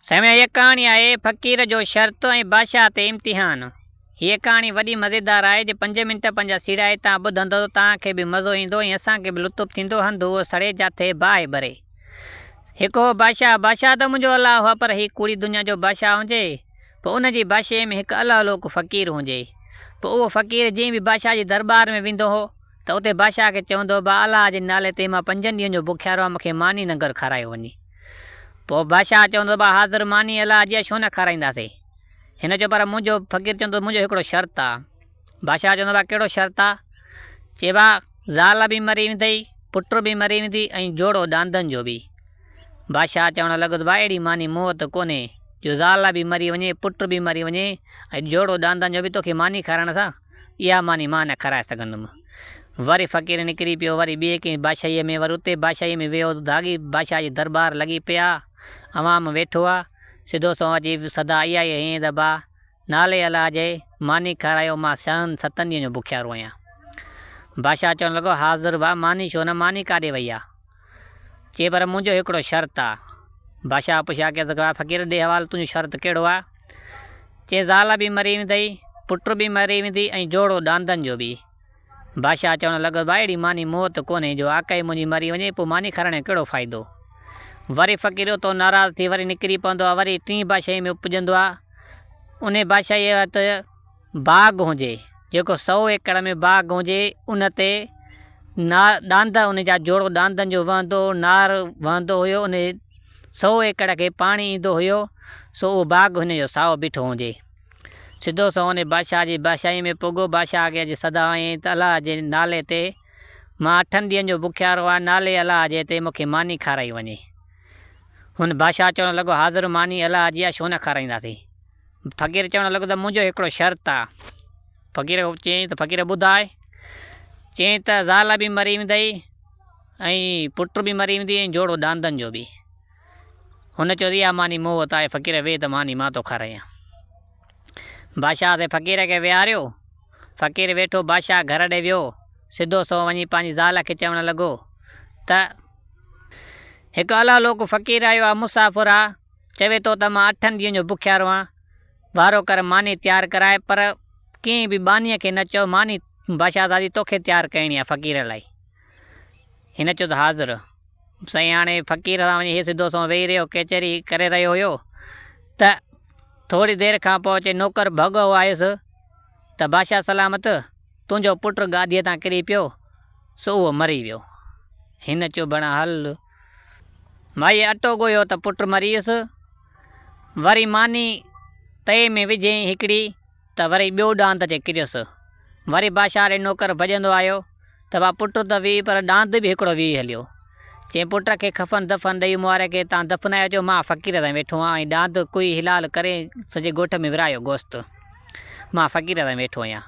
سائين هيء ڪهاڻي آهي فقير جو شرط ۽ بادشاهه تي امتحان. هيء ڪهاڻي وڏي مزيدار آهي جي پنج منٽ پنهنجا سيڙائي تان ٻڌندؤ ته توهان کي به مزو ايندو ۽ اسان کي به لطف ٿيندو هنڌ هو سڙي جاٿي باهه ٻري هڪ هو بادشاهه بادشاهه ته منهنجو الله هو پر هي ڪوڙي دنيا جو بادشاهه هونجي پو ان جي بادشاهي ۾ هڪ الهه لوڪ فقير هونجي پو اهو فقير جئين به بادشاهه جي درٻار ۾ ويندو هو ته اتي بادشاهه کي چوندو به الله جي نالي تي مان پنجن ڏينهن جو بکيارو آهيان مون کي ماني نه گهر کارايو وڃي. پوء بادشاهه چوندو به حاضر ماني الله جي آهي ڇو نه کارائينداسين. هن چيو پر منهنجو فقير چوندو منهنجو هڪڙو شرط آ. بادشاهه چوندو به ڪهڙو شرط آ؟ چي به زال به مري ويندئي، پٽ به مري ويندي ۽ جوڙو ڏاندن جو به. بادشاهه چوڻ لڳو ته به اهڙي ماني مون وٽ ڪونهي جو زال به مري وڃي، پٽ به مري وڃي ۽ جوڙو ڏاندن جو به توکي ماني کارائڻ سان. اها ماني مان نه کارائي سگهندم. وري فقير نڪري پيو، وري ٻئي ڪنهن بادشاهيء ۾، وري اتي بادشاهيء ۾ ويو، داغي بادشاهه جي درٻار لڳي پيا، عوام ويٺو آ، سڌو سنئون اچي صدا اها ئي هنئين ته با، نالي الله جي، ماني کارايو، مان ڇهن ستن ڏينهن جو بکيارو آهيان. بادشاهه چوڻ لڳو، حاضر با، ماني ڇو نه، ماني ڪاڏي وئي آ؟ چي پر منهنجو هڪڙو شرط آ. بادشاهه پڇيا ڪي زڪوا فقير ڏي حوالو تنهنجو شرط ڪهڙو آ؟ چي زال به مري ويندئي، پٽ به مري ويندي ۽ جوڙو ڏاندن جو به. بادشاهه چوڻ لڳو ڀائڙي ماني موت ڪونهي جو آقائي منهنجي مري وڃي پوء ماني کارائڻ جو ڪهڙو فائدو. وري فقير اتو ناراض ٿي وري نڪري پوندو آ وري ٽين بادشاهي ۾ پڄندو آ انهي بادشاهي وقت باغ هجي، جيڪو سئو ايڪڙ ۾ باغ هجي، ان تي نار ڏاند ان جا جوڙو ڏاندن جو وهندو هو، نار وهندو هيو، ان سئو ايڪڙ کي پاڻي ايندو هيو، سو اهو باغ هن جو سائو بيٺو هجي. سڌو سنئون ان بادشاهه جي بادشاهيء ۾ پڳو، بادشاهه کي اڄ سدا هنئين ته الله جي نالي تي مان اٺن ڏينهن جو بکيارو آهيان، نالي الله جي تي مون کي ماني کارائي وڃي. هن بادشاهه چوڻ لڳو، حاضر ماني الله جي آهي، ڇو نه کارائينداسين؟ فقير چوڻ لڳو ته منهنجو هڪڙو شرط آ. فقير کان چيائين ته فقير ٻڌاء. چيائين ته زال به مري ويندئي ۽ پٽ به مري ويندئي ۽ جوڙو ڏاندن جو به. هن چيو ته اها ماني مون وٽ آهي فقير ويهه ته ماني مان توکان رهيان. بادشاهه سين فقير کي ويهاريو. فقير ويٺو بادشاهه گهر ڏي ويو. سڌو سنئون وڃي پنهنجي زال کي چوڻ لڳو ته هڪ الاهولوڪ فقير آيو آ مسافر آ. چوي ٿو ته مان اٺن ڏينهن جو بکيارو آهيان، وارو ڪر ماني تيار ڪرائي، پر ڪنهن به ٻانهيء کي نه چئو، ماني باشاهزادي توکي تيار ڪرڻي آهي فقير لاء. هن چيو ته حاضر سائين! هاڻي فقير سان وڃي هي سڌو سنئون ويهي رهيو، ڪيچري ڪري رهيو هيو ته ٿوري دير کان پوء چئي نوڪر ڀڳو آيس ته باشاهه سلامت، تنهنجو پٽ گاديء تان ڪري پيو، سو اهو مري ويو. هن چيو ڀڻا هل! مائيء اٽو ڳوهيو ته پٽ مريس. وري ماني تئي ۾ وجهيئين هڪڙي ته وري ٻيو ڏاند اچي ڪريس. وري بادشاهه ڏي نوڪر ڀڄندو آيو ته وا پٽ ته ويهي پر ڏاند به هڪڙو ويهي هليو. چيائين پٽ کي کفن دفن ڏئي مبارڪي تان دفنايو اچو مان فقير تائين ويٺو آهيان ۽ ڏاند ڪوئي حلال ڪري سڄي ڳوٺ ۾ ورهايو گوست مان فقير تائين ويٺو آهيان.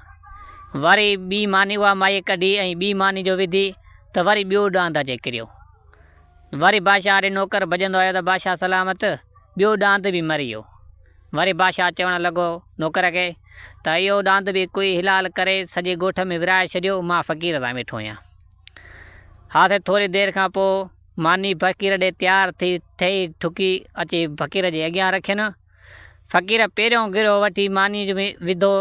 وري ٻي ماني اها مائيء ڪڍي ۽ ٻي ماني جو وڌي. ته وري ٻيو ڏانهن ٿا چئي ڪريو. وري بادشاهه ڏي نوڪر ڀڄندو آيو ته بادشاهه سلامت ٻيو ڏانت به مري ويو. وري بادشاهه چوڻ لڳو نوڪر کي ته اهو ڏانت به ڪوئي حلال ڪري سڄي ڳوٺ ۾ ورهائي ڇڏيو مان فقير سان ويٺو آهيان. ها سي ٿوري دير کان پوء ماني فقير ڏي تيار ٿي ٺهي ٺڪي اچي فقير جي اڳيان رکين. فقير پهريون گرهه وٺي مانيء ۾ وڌو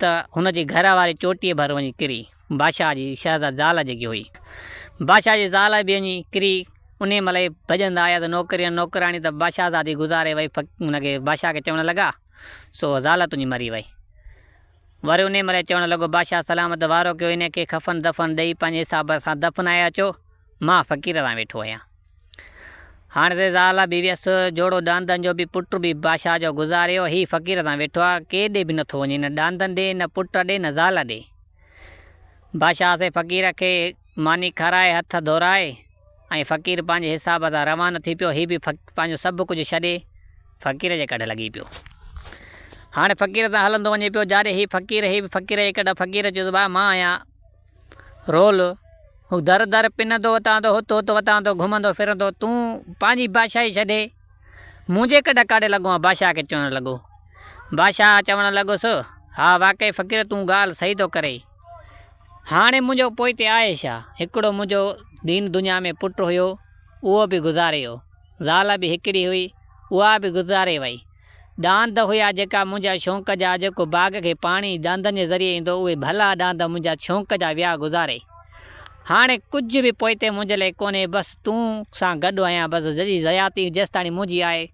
ته هن جي گهر واري چوٽيء ڀر وڃي ڪري، بادشاهه جي شهزاد زال جيڪي هئي، بادشاهه جي زال به وڃي ڪري، انهيء مهل ئي ڀڄندا آيا ته نوڪريون نوڪراڻي ته بادشاهزادي گذاري وئي، هن کي بادشاهه کي چوڻ لڳا، سو زال تنهنجي مري وئي. وري انهيء مهل ئي چوڻ لڳو، بادشاهه سلامت وارو ڪيو، هن کي ڪفن دفن ڏئي پنهنجي حساب سان دفنائي اچو، مان فقير سان ويٺو آهيان. هاڻ سي زال به ويس، جوڙو ڏاندن جو به پٽ به بادشاهه جو گذاريو، هي فقير تان ويٺو آ، ڪير ڏي به نٿو وڃي، نه ڏاندن ڏي، نه پٽ ڏي، نه زال ڏي. بادشاهه سي فقير کي ماني کارائي، هٿ ڌورائي، ۽ فقير پنهنجي حساب سان روانو ٿي پيو، هي به پنهنجو سڀ ڪجهه ڇڏي فقير جي ڪڍ لڳي پيو. هاڻ فقير تان هلندو وڃي پيو، جاڏي هي فقير، هي به فقير جي ڪڍ، فقير چيو ته ڀاء مان آهيان. رول، هو در در پنندو وتاندو هت هت وتاندو گهمندو ڦرندو تون پنهنجي بادشاهي ڇڏي منهنجي ڪڍ ڪاڙهي لڳو آن بادشاهه کي چوڻ لڳو. بادشاهه چوڻ لڳس، ها واقعي فقير تون ڳالهه صحيح ٿو ڪرين. هاڻي منهنجو پوئتي آهي ڇا؟ هڪڙو منهنجو دين دنيا ۾ پٽ هيو اهو به گذاري ويو، زال به هڪڙي هئي اها به گذاري وئي، ڏاند هيا جيڪا منهنجا شونق جا جيڪو باغ کي پاڻي ڏاندن جي ذريعي ايندو اهي ڀلا ڏاند منهنجا شونق جا ويا گذاري هاڻي ڪجهه به پوئتي منهنجي لاء ڪونهي بس تون سان گڏ آهيان بس جي حياتي جيستاڻي منهنجي آهي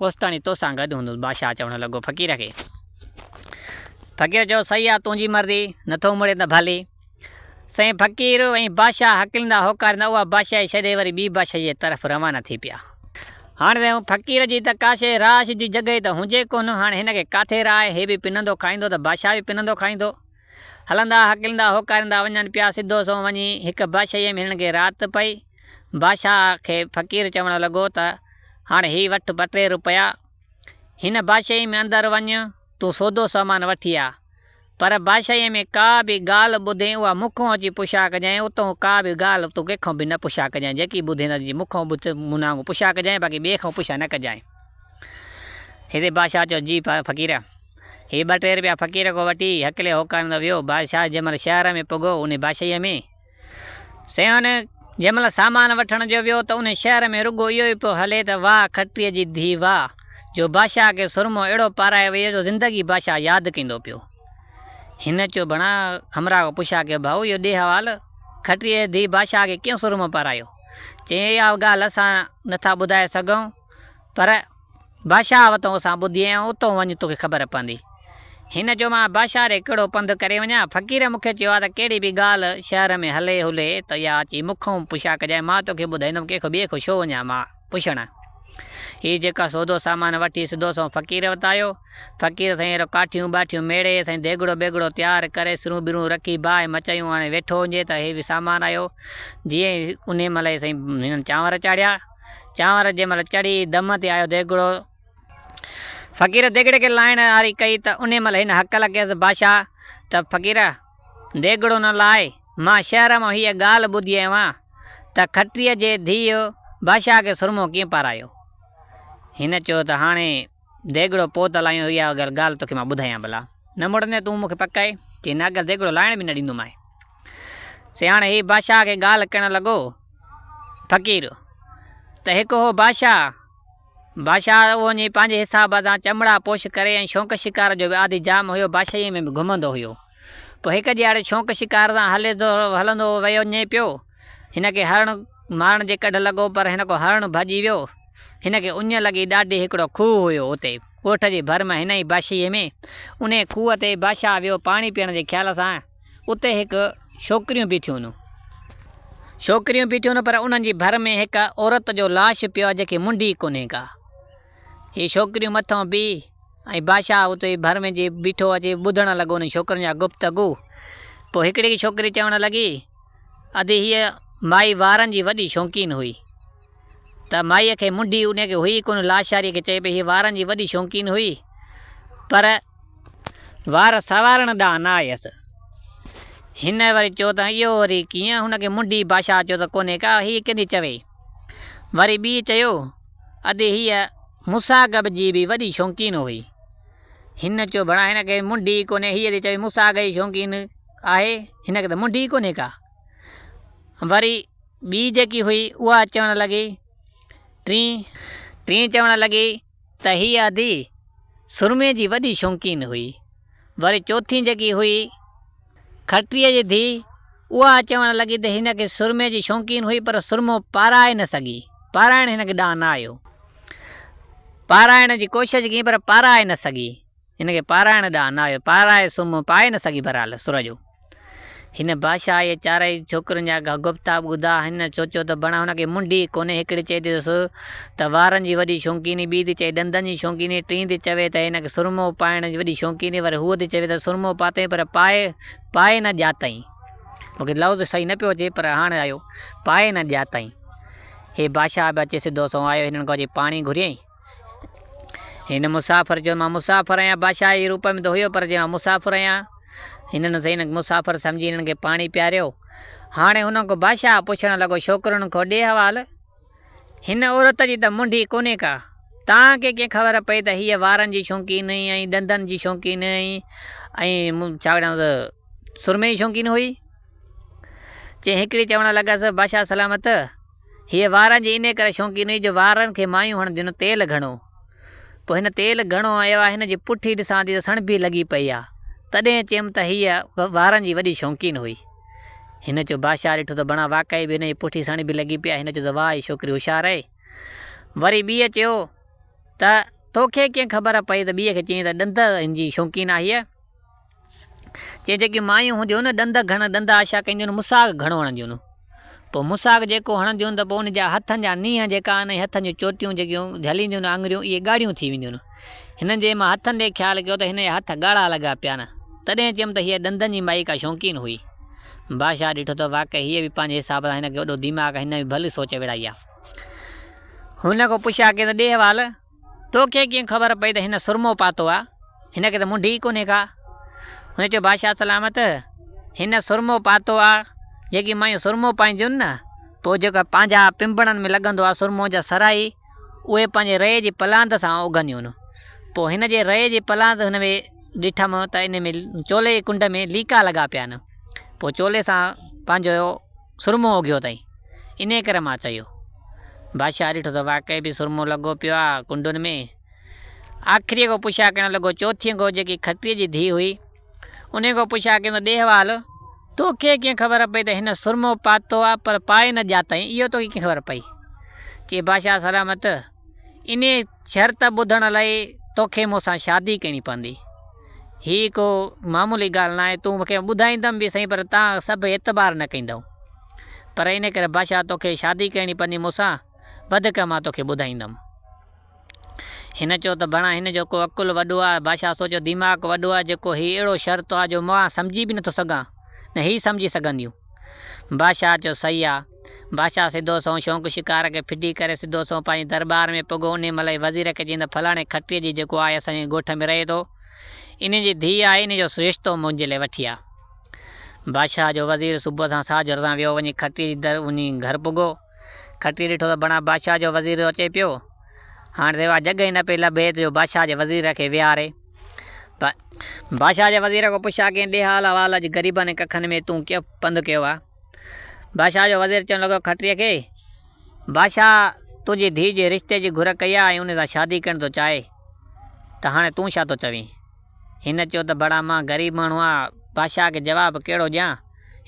اوستاڻي توسان گڏ هوندس بادشاهه چوڻ لڳو فقير کي فقير چيو صحيح آ تنهنجي مرضي نٿو مڙين ته ڀلي. سائين فقير ۽ بادشاهه هڪلندا هوڪاريندا اها بادشاهي ڇڏي وري ٻي بادشاهي جي طرف روانا ٿي پيا. هاڻ سائين هن فقير جي ته ڪا شيء رهائش جي جڳهه ئي ته هونجي ڪونه، هاڻ هن کي ڪاٿي رهائي، هي به پنندو کائيندو ته بادشاهه به پنندو کائيندو. هلندا هڪلندا هوڪاريندا وڃن پيا، سڌو سنئون وڃي هڪ بادشاهيء ۾ هنن کي رات پئي. بادشاهه کي فقير چوڻ لڳو ته هاڻ هي وٺ ٻه ٽي روپيا، هن بادشاهيء ۾ اندر وڃ، تون سودو سامان وٺي آ. پر بادشاهيء ۾ ڪا به ڳالهه ٻڌين، اها مون کان اچي پڇا ڪجانء، اتهون ڪا به ڳالهه تون ڪنهن کان به نه پڇا ڪجانء، جيڪي ٻڌين اچي مون کان ٻڌ، مون نانگ پڇا ڪجانء، باقي ٻئي کان پڇا نه ڪجانء. هتي بادشاهه چيو، جي فقير! هي ٻه ٽي رپيا فقير کان وٺي هڪلي هوڪاريندو ويو. بادشاهه جنهن مهل شهر ۾ پڳو، انهيء بادشاهيء ۾. سيون، جنهن مهل سامان وٺڻ جو ويو ته انهي شهر ۾ رڳو اهو ئي پيو هلي ته واهه کٽريء جي ڌيء واهه، جو بادشاهه کي سرمو اهڙو پارائي ويئي جو زندگي بادشاهه ياد ڪيندو پيو. هن چيو ڀڻا همراهه کان پڇيا ڪي ڀائو اهو ڏي حوال، کٽريء جي ڌيء بادشاهه کي ڪيئن سرمو پارايو؟ چيائين اها ڳالهه اسان نٿا ٻڌائي سگهون پر، بادشاهه وتون سان ٻڌي ۽ اتون وڃ توکي خبر پوندي. هن چيو مان بادشاهه ڏي ڪهڙو پنڌ ڪري وڃان؟ فقير مون کي چيو آهي ته ڪهڙي به ڳالهه شهر ۾ هلي هلي ته اها اچي مون کان پڇا ڪجانء مان توکي ٻڌائيندم ڪنهن کان ٻئي کان ڇو وڃان مان پڇڻ؟ هي جيڪا سودو سامان وٺي سڌو سنئون فقير وٽ آيو. فقير سائين اهڙو ڪاٺيون ٻاٺيون ميڙي سائين ديڳڙو بيڳڙو تيار ڪري سرون ٻرون رکي باهه مچايون هاڻي ويٺو هجي ته هي به سامان آيو جيئن انهي مهل ئي سائين هنن چانور چاڙهيا. چانور جنهن مهل چڙهي دم تي آيو ديڳڙو. فقير ديڳڙي کي لاهڻ آري ڪئي ته انهي مهل هن هڪل ڪيس بادشاهه ته فقير! ديڳڙو نه لاء، مان شهر مان هيء ڳالهه ٻڌي آيو آهيان ته کٽريء جي ڌيء بادشاهه کي سرمو ڪيئن پارايو. هن چيو ته هاڻي. ديڳڙو پوء ته لاهيون اها اگر ڳالهه توکي مان ٻڌايان ڀلا. نه مڙندين تون مون کي پڪ آهي؟ چي نه اگر ديڳڙو لاهڻ به نه ڏيندومانء. سي هاڻي هي بادشاهه کي ڳالهه ڪرڻ لڳو. فقير، ته هڪ هو بادشاهه. بادشاهه اهو وڃي پنهنجي حساب سان چمڙا پوش ڪري ۽ شونق شڪار جو به عادي جام هيو بادشاهيء ۾ به گهمندو هيو. پوء هڪ ڏيهاڙي شونق شڪار سان هلندو ويو وڃي پيو. هن کي هرڻ مارڻ جي ڪڍ لڳو پر هن ڪو هرڻ ڀڄي ويو. هن کي اڃ لڳي ڏاڍي هڪڙو کوهه هيو اتي ڳوٺ جي ڀر ۾ هن ئي باشيء ۾ انهي کوهه تي بادشاهه ويو پاڻي پيئڻ جي خيال سان اتي هڪ ڇوڪريون بيٺيون هون. ڇوڪريون بيٺيون هون پر انهن جي ڀر ۾ هڪ عورت جو لاش پيو آهي جيڪي منڍي ڪونهي ڪا. هي ڇوڪريون مٿو بيهي ۽ بادشاهه اتي ڀر ۾ جي بيٺو اچي ٻڌڻ لڳو انهن ڇوڪرين جا گفتگو. پوء هڪڙي ڇوڪري چوڻ لڳي، ادي هيء مائي وارن جي وڏي شوقين هئي. ته مائيء کي منڍي ان کي هئي ئي ڪونه لاشاريء کي چئي پئي هيء وارن جي وڏي شوقين هئي پر وار سنوارڻ ڏانهن نه آيس. هن وري چيو ته اهو وري ڪيئن هن کي منڍي بادشاهه چيو ته ڪونهي ڪا هيء ڪنهن جي چوي. وري ٻيء چيو. ادي هيء مساڳب جي به وڏي شونقين هئي. هن چيو، ڀلا هن کي منڍي ئي ڪونهي. هيء تي چوي، مساڳ جي شونقين آهي، هن کي ته منڍي ئي ڪونهي ڪا. وري ٻي جيڪي هئي، اها چوڻ لڳي، ٽين. ٽين چوڻ لڳي ته هيء ادي سرمي جي وڏي شونقين هئي. وري چوٿين جيڪي هئي کٽريء جي ڌيء، اها چوڻ لڳي ته هن کي سرمي جي شونقين هئي پر سرمو پارائي نه سگهي، پارائڻ هن کي ڏانء نه آيو. پارائڻ جي ڪوشش ڪيائين پر پارائي نه سگهي، هن کي پارائڻ ڏانء نه آيو، پارائي سرمو پائي نه سگهي، بهرحال سر جو. هن بادشاهه ۽ چارئي ڇوڪرين جا گفتا ٻڌا. هن سوچيو ته بڻ هن کي منڍ ئي ڪونهي، هڪڙي چئي ٿي ته سو ته وارن جي وڏي شونقيني، ٻي ٿي چئي ڏندن جي شونقيني، ٽين ٿي چوي ته هن کي سرمو پائڻ جي وڏي شونقيني، وري هوء ٿي چوي ته سرمو پاتئين پر پائي پائي نه ڄاتئين. مون کي لفظ صحيح نه پيو اچي پر هاڻ آيو، پائي نه ڄاتئين. هي بادشاهه به اچي سڌو سنئون آيو، هنن کان اچي پاڻي گهريائين. هن مسافر چيو، مان مسافر آهيان، بادشاهه جي روپ ۾ ته هيو پر چيو مان مسافر آهيان. هنن سائين هن کي مسافر سمجهي هنن کي پاڻي پياريو. هاڻي هن کان بادشاهه پڇڻ لڳو، ڇوڪرن کان ڏي حوال، هن عورت جي ته منڍي ڪونهي ڪا، توهان کي ڪيئن خبر پئي ته هيء وارن جي شوقين ۽ ڏندن جي شوقين ۽ ڇا چئبو آهي سرمي جي شوقين هئي. چي هيڪڙي چوڻ لڳس، بادشاهه سلامت! هيء وارن جي انهيء ڪري شوقين هئي جو وارن کي مايون هڻنديون نه تيل گهڻو. پوء هن تيل گهڻو هنيو آهي، هن جي پٺي ڏسان ٿي ته سڻڀ به لڳي پئي آهي. تڏهن چيم ته هيء وارن جي وڏي شوقين هئي. هن چيو، بادشاهه ڏٺو ته بڻا واقعي به هن جي پٺي سڻڀ به لڳي پئي آهي. هن چيو ته واهه هيء ڇوڪري هوشيار آهي. وري ٻيء چيو ته توکي ڪيئن خبر پئي ته ٻيء کي چيائين ته ڏند هن جي شوقين آهي. چي جيڪي مايون هونديون هن ڏند گهڻ ڏند آشا ڪنديون مساگ گهڻو هڻنديون هن پوء مساگ جيڪو هڻنديون ته پوء ان جا هٿن جا نينهن جيڪا آهن ۽ هٿن جون چوٽيون جيڪيون جهلينديون هن آڱريون اهي ڳاڙهيون ٿي وينديون هن هنن جي مان هٿن ڏي خيال ڪيو ته هن جا هٿ ڳاڙها لڳا پيا آهن تڏهن چيم ته هيء ڏندن جي مائي ڪا شوقين هئي بادشاهه ڏٺو ته واقعي هيء به پنهنجي حساب سان هن کي وڏو ديماغ آهي هن به ڀلي سوچ وڙهائي آهي هن کان پڇيا ڪيس ته ڏي حوال تو کي ڪيئن خبر پئي ته هن سرمو پاتو آ؟ هن کي ته منڍي ئي ڪونهي ڪا. هن چيو بادشاهه سلامت، هن سرمو پاتو آ، جيڪي مايون سرمو پائينديون نه، پوء جيڪو پنهنجا پنبڻن ۾ لڳندو آ سرمو جا سرائي، اهي پنهنجي رئي جي پلاند سان اگهنديون. پوء هن جي رئي جي پلاند هن ۾ ڏٺم ته ان ۾ چولي جي ڪنڊ ۾ ليڪا لڳا پيا آهن. پوء چولي سان پنهنجو سرمو اگهيو اٿئي، انهيء ڪري مان چيو. بادشاهه ڏٺو ته واقعي به سرمو لڳو پيو آهي ڪنڊن ۾. آخريء کان پڇا ڪرڻ لڳو، چوٿين گهوء جيڪي کٽريء جي ڌيء هئي، انهيء کان پڇا ڪيم ته ڏيهوال، توکي ڪيئن خبر پئي ته هن سرمو پاتو آهي پر پائي نه ڄاتائين، اهو توکي ڪيئن خبر پئي؟ چي بادشاهه سلامت! انهيء شرط ٻڌڻ لاء توکي مون سان شادي ڪرڻي پوندي. هيء ڪو معمولي ڳالهه ناهي. تون مون کي ٻڌائيندم به سهي پر توهان سڀ اعتبار نه ڪندؤ. پر ان ڪري بادشاهه توکي شادي ڪرڻي پوندي مون سان، وڌيڪ مان توکي ٻڌائيندم. هن چيو ته بڻا هن جو ڪو عقل وڏو آ. بادشاهه سوچيو ديماغ وڏو آ جيڪو هيء اهڙو شرط آ جو مان سمجهي به نٿو سگهان نه هيء سمجهي سگهنديون. بادشاهه چيو صحيح آ. بادشاهه سڌو سنئون شونق شڪار کي ڦٽي ڪري سڌو سنئون پنهنجي درٻار ۾ پڳو انهي مهل ئي وزير کي چيائين ته فلاڻي کٽيء جي جيڪو آهي اسان جي ڳوٺ ۾ رهي ٿو انهي جي ڌيء آهي انهي جو رشتو منهنجي لاء وٺي آ. بادشاهه جو وزير صبح سان ساجهر سان ويو وڃي کٽيء جي در وڃي گهر پڳو کٽيء ڏٺو ته بڻا بادشاهه جو وزير اچي پيو هاڻ سواء جڳهه ئي نه پئي لڀي ته جو بادشاهه جي وزير کي ويهاري. بادشاهه جي وزير کان پڇا ڪين ڏي حال احوال اڄ غريبن ۽ ڪکن ۾ تون ڪيئن پنڌ ڪيو آ. بادشاهه جو وزير چوڻ لڳو کٽريء کي، بادشاهه تنهنجي ڌيء جي رشتي جي گهر ڪئي آ ۽ ان سان شادي ڪرڻ ٿو چاهي ته هاڻي تون ڇا ٿو چوين؟ هن چيو ته بڙا مان غريب ماڻهو آ بادشاهه کي جواب ڪهڙو ڏيان؟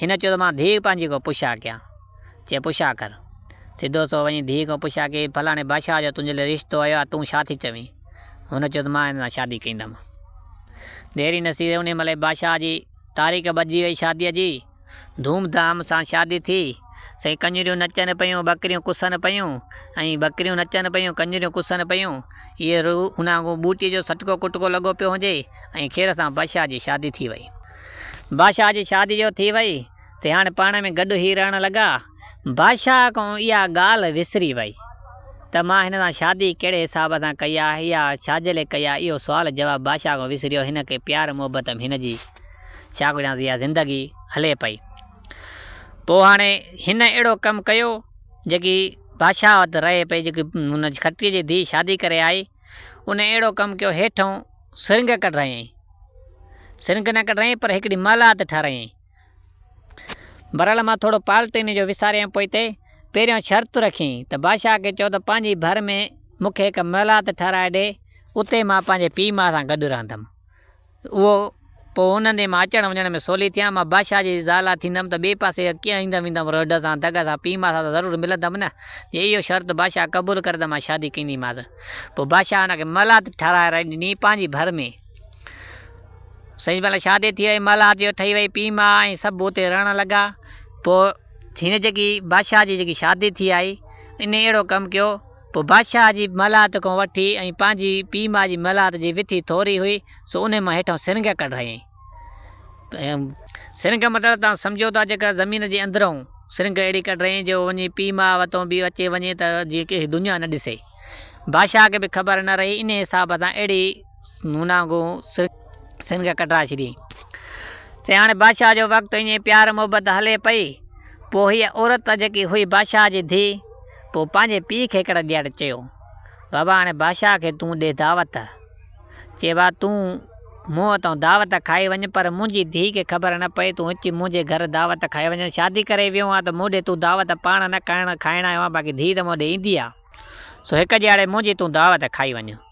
هن چيو ته مان ڌيء پنهنجي کان پڇا ڪيان. چي پڇا ڪر. سڌو سنئون وڃي ڌيء کان پڇا ڪي، فلاڻي بادشاهه جو تنهنجي لاء رشتو آيو آ تون ڇا ٿي چوين؟ هن چيو ته مان هن سان شادي ڪيندم. ديري نصير انهيء مهل ئي بادشاهه جي تاريخ ٻڌجي وئي شاديء جي. ڌوم ڌام سان شادي ٿي. سائين ڪڃريون نچن پيون، ٻڪريون ڪسن پيون ۽ ٻڪريون نچن پيون، ڪڃريون ڪسن پيون. اهي روح ان وانگون ٻوٽي جو سٽڪو ڪٽڪو لڳو پيو هنجي ۽ خير سان بادشاهه جي شادي ٿي وئي. بادشاهه جي شادي جو ٿي وئي سي هاڻي پاڻ ۾ گڏ هي رهڻ لڳا. بادشاهه ڪنهن اها ڳالهه وسري وئي ته مان هن سان شادي ڪهڙي حساب سان ڪئي آهي يا ڇاجي لئي ڪئي آهي اهو سوال جواب بادشاهه ڪنهن وسريو هن کي پيار محبت ۾ هن جي ڇا ڪجهانس اها زندگي هلي پئي پوء هاڻي هن اهڙو ڪم ڪيو جيڪي بادشاهه وٽ رهي پئي جيڪي هن کٽري جي ڌي شادي ڪري آئي ان اهڙو ڪم ڪيو هيٺئون سرنگ ڪڍرائينء سرنگ نه ڪڍرائينء پر هڪڙي محلات ٺهرائينء. بھرحال مان ٿورو پالٽيني جو وساريم پوء تي پهريون شرط رکين ته بادشاهه کي چئو ته پنهنجي ڀر ۾ مون کي هڪ محلات ٺهرائي ڏي اتي مان پنهنجي پيء ماء سان گڏ رهندم اهو پوء انهن جي مان اچڻ وڃڻ ۾ سولي ٿيان مان بادشاهه جي زال ٿيندم ته ٻئي پاسي ڪيئن ايندم ويندم رهڊ سان دڳ سان پيء ماء سان ته ضرور ملندم نه جي اهو شرط بادشاهه قبول ڪري ته مان شادي ڪنديمانس پوء بادشاهه ان کي محلات ٺهرائي ڏني پنهنجي ڀر ۾. سائين مھل شادي ٿي وئي، مھل آتيو ٺھي وئي، پيء ماء ۽ سڀ اتي رھڻ لڳا. پوء ھن جيڪي بادشاھھ جي جيڪي شادي ٿي آئي، انھي اھڙو ڪم ڪيو. پوء بادشاھھ جي مھل آت کان وٺي ۽ پنھنجي پيء ماء جي مھل آت جي وٿي ٿوري ھئي، سو انھي مان ھيٺان سرنگھه ڪڍرايائين. سرنگھه مطلب توھان سمجھو ٿا جيڪا زمين جي اندرئون سرنگھه اھڙي ڪڍرايائين جو وڃي پيء ماء وتان بھ اچي وڃي تھ جيئن ڪنھن کي دنيا نھ ڏسي. بادشاھھ کي بھ خبر نھ رھي، انھي حساب سان اھڙي نونا گو سنگ ڪٽرا شري. چي هاڻي بادشاهه جو وقت ائين پيار محبت هلي پئي. پوء هيء عورت جيڪي هئي بادشاهه جي ڌيء. پوء پنهنجي پيء کي هڪڙي ڏيهاڙي چيو، بابا هاڻي بادشاهه کي تون ڏي دعوت. چي وا تون مون وتان دعوت کائي وڃ پر منهنجي ڌيء کي خبر نه پئي تون اچي منهنجي گهر دعوت کائي وڃ. شادي ڪري ويو آهيان ته مون ڏي تون دعوت پاڻ نه کائڻ آيو آهيان باقي ڌيء ته مون ڏي ايندي آهي. سو هڪ ڏيهاڙي منهنجي تون دعوت کائي وڃ.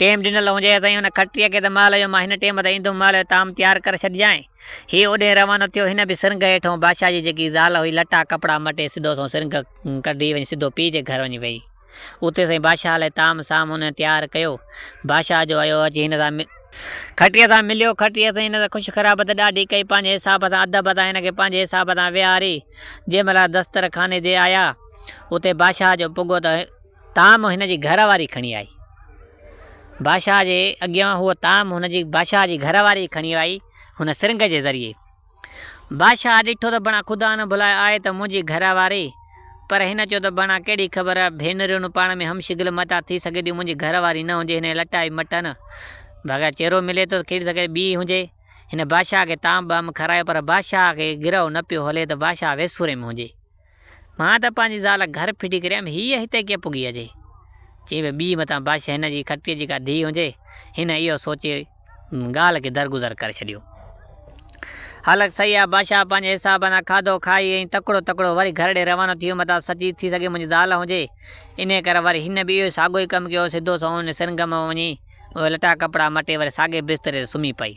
ٽيم ڏنل هجيس ۽ هن کٽيء کي ته مال هيو، مان هن ٽيم تي ايندم، مال جو طعام تيار ڪري ڇڏجانء. هيء اوڏهين روانو ٿيو. هن به سرنگهه هيٺئون بادشاهه جي جيڪي زال هئي، لٽا ڪپڙا مٽي سڌو سنئون سرنگهه ڪڍي وڃي سڌو پيء جي گهر وڃي ويئي. اتي سائين بادشاهه لاء طعام سام هن تيار ڪيو. بادشاهه جو ايو اچي هن سان. کٽيء سان مليو. کٽيء سائين هن سان خوش خرابت ڏاڍي ڪئي. پنهنجي حساب سان ادب سان هن کي پنهنجي حساب سان ويهاري جنهن مهل دسترخاني تي آيا. اتي بادشاهه جو پڳو ته. طعام هن جي گهر واري کڻي آئي. بادشاهه جي اڳيان هو طعام هن جي بادشاهه جي گهر واري کڻي آئي هن سرنگهه جي ذريعي. بادشاهه ڏٺو ته بڻا خدا نه بلايو آهي ته منهنجي گهر واري پر هن چيو ته بڻا ڪهڙي خبر ڀينريون پاڻ ۾ هم شڪل متان ٿي سگهي ٿيون منهنجي گهر واري نه هجي هن لٽائي مٽن بغير چيرو ملي ٿو ٿي سگهي ٿو ٻي هجي هن بادشاهه کي طعام ٻعام کارايو پر بادشاهه کي گرهه نه پيو هلي ته بادشاهه ويسوري ۾ هجي. مان ته پنهنجي زال گهر ڦٽي ڪريم، هيء هتي ڪيئن پڳي اچي؟ چئي به ٻيء متان بش هن جي کٽيء جي ڪا ڌيء هجي. هن اهو سوچي ڳالهه کي درگذر ڪري ڇڏيو. هلڪ سهي آ بش آ، پنهنجي حساب سان کاڌو کائي ۽ تڪڙو تڪڙو وري گهر ڏي روانو ٿيو. متان سچي ٿي سگهي منهنجي زال هجي. انهيء ڪري وري هن به اهو ساڳيو ئي ڪم ڪيو، سڌو سنئون هن سرنگهه ۾ وڃي اهي لٽا ڪپڙا مٽي وري ساڳئي بستري تي سمهي پئي.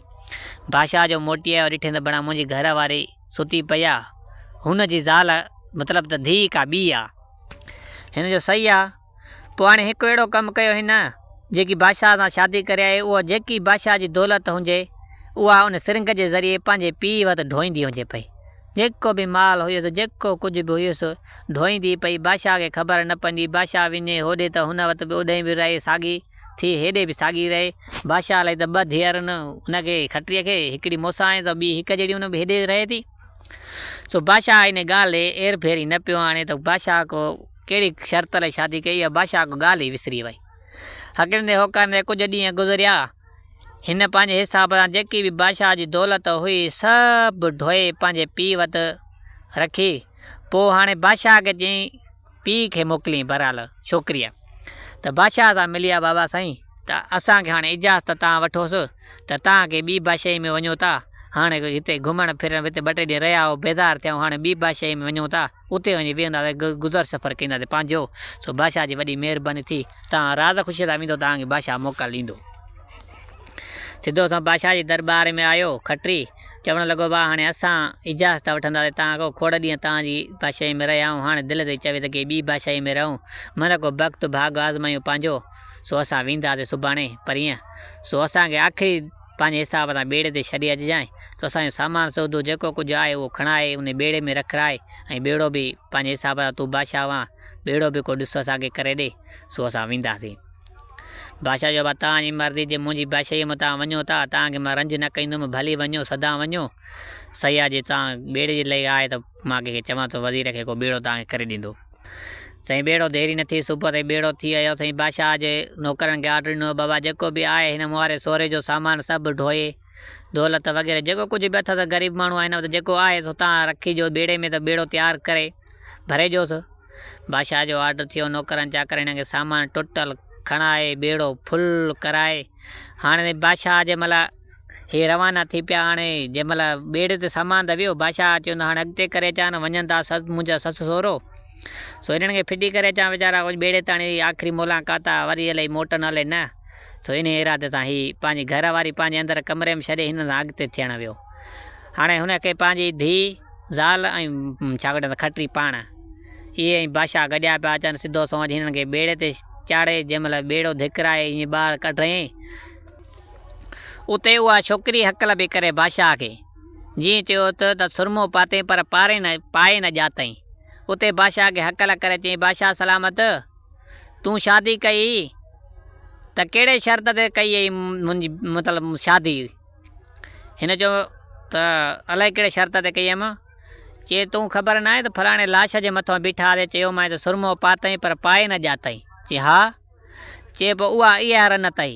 بش آ جو موٽي آيو، ڏٺين ته بڻان منهنجي گهر واري، ستي پئي آ. هن جي زال مطلب ته ڌيء ڪا ٻي آ. هن جو صحيح آ. پوء هاڻي هڪ اهڙو ڪم ڪيو هن، جيڪي بادشاهه سان شادي ڪري آهي، اها جيڪي بادشاهه جي دولت هجي، اها ان سرنگهه جي ذريعي پنهنجي پيء وٽ ڍوئيندي هجي پئي. جيڪو به مال هيس، جيڪو ڪجهه به هيس، ڍوئيندي پئي. بادشاهه کي خبر نه پوندي. بادشاهه وڃي هوڏي ته هن وٽ به اوڏهين به رهي ساڳي. ٿي هيڏي به ساڳي رهي. بادشاهه الائي ته ٻه ڌيئرن ان کي، کٽريء کي، هڪڙي موسائين ته ٻي هڪ جهڙي ان به هيڏي رهي ٿي. سو بادشاهه انهيء ڳالهه ڏي اير ڦيري نه پيو آڻي ته بادشاهه ڪو ڪهڙي شرط الائي شادي ڪئي اها بادشاهه ڪو ڳالهه ئي وسري وئي. هڪريندي هوڪاريندي ڪجهه ڏينهن گذريا. هن پنهنجي حساب سان جيڪي به بادشاهه جي دولت هئي سڀ ڍوئي پنهنجي پيء وٽ رکي. پوء هاڻي بادشاهه کي چيائين. پيء کي موڪلين بھرحال ڇوڪريء ته بادشاھه سان ملي آ بابا سائين ته اسان کي ھاڻي اجازت تان وٺوس ته تان ڪي ٻي بادشاھي ۾ وڃون ٿا ھاڻي ھتي گھمڻ ڦرڻ ھتي ٻه ٽي ڏينھن رھيا ھئو بيزار ٿيا ھئون ھاڻي ٻي بادشاھي ۾ وڃون ٿا اتي وڃي ويھنداسين گذر سفر ڪنداسين پنھنجو سو بادشاھه جي وڏي مھرباني ٿي تان راض خوشيء سان ويندو تان کي بادشاھه موڪل ڏيندو. سڌو سنئون بادشاھه جي درٻار ۾ آيو کٽري. چوڻ لڳو ڀاء هاڻي اسان اجازت ٿا وٺنداسين تان اڳو کوڙ ڏينهن توهان جي بادشاهي ۾ رهيا آهيون هاڻي دل تي چوي ته ڪي ٻي بادشاهي ۾ رهون مهل ڪو بخت ڀاڳ آزمايون پنهنجو سو اسان وينداسين سڀاڻي پرينء سو اسان کي آخري پنهنجي حساب سان ٻيڙي تي ڇڏي اچجانء سو اسان جو سامان سودو جيڪو ڪجهه آهي اهو کڻائي انهي ٻيڙي ۾ رکرائي ۽ ٻيڙو به پنهنجي حساب سان تون بادشاهه وان ٻيڙو به ڪو ڏس اسان کي ڪري ڏي سو اسان وينداسين. بادشاهه چيو، ڀلا توهان جي مرضي، جي منهنجي بادشاهيء ۾ توهان وڃو ٿا، تان کي مان رنج نه ڪنديم، ڀلي وڃو، سدان وڃو. سياح جي توهان ٻيڙي جي لئي آهي ته مان ڪنهن کي چوان ٿو، وزير کي ڪو ٻيڙو توهان کي ڪري ڏيندو. سائين ٻيڙو ديري نه ٿي، صبح تائين ٻيڙو ٿي آيو. سائين بادشاهه جي نوڪرن کي آرڊر ڏنو، بابا جيڪو به آهي هن مهاري سوري جو سامان سڀ ڍوئي، دولت وغيره جيڪو ڪجهه به اٿس، غريب ماڻهو آهن، هتان جيڪو آهيس هتان رکي جو ٻيڙي ۾ ته ٻيڙو تيار ڪري ڀري ڏيوس. بادشاهه جو آرڊر ٿيو، نوڪرن چاڪرڻين کي سامان ٽوٽل کڻائي ٻيڙو فل ڪرائي هاڻي بادشاهه جنهن مهل هي روانا ٿي پيا هاڻي جنهن مهل ٻيڙي تي سامان ته ويو بادشاهه چيو ته هاڻي اڳتي ڪري اچان نه وڃن ٿا منهنجا سس سهرو سو هنن کي ڦٽي ڪري اچان ويچارا ڪجهه ٻيڙي تاڻي آخري ملاقات آ وري الائي موٽن الائي نه سو انهي ارادي سان هي پنهنجي گهر واري پنهنجي اندر ڪمري ۾ ڇڏي هنن سان اڳتي ٿيڻ ويو هاڻي هن کي پنهنجي ڌي. زال ۽ ڇاڪڻ ته کٽري پاڻ، اهي ۽ بادشاهه گڏيا پيا اچن. سڌو سنئون اچي هنن کي ٻيڙي تي چاڙهي جنهن مهل ٻيڙو ڌڪرائي ائين ٻاهر ڪڍيائين، اتي اها ڇوڪري هڪل پئي ڪري بادشاهه کي، جيئن چيو اٿ ته سرمو پاتين پر پاري نه، پائي نه ڄاتئين. اتي بادشاهه کي هڪل ڪري چيائين، بادشاهه سلامت! تون شادي ڪئي ته ڪهڙي شرط تي ڪئي اٿئي منهنجي مطلب شادي؟ هن چيو ته الائي ڪهڙي شرط تي ڪيم؟ چي تون خبر ناهي ته فلاڻي لاش جي مٿان بيٺا هئا چيومانء ته سرمو پاتئين پر پائي نه ڄاتئين؟ چي ها. چي پوء اها اها رن اٿئي.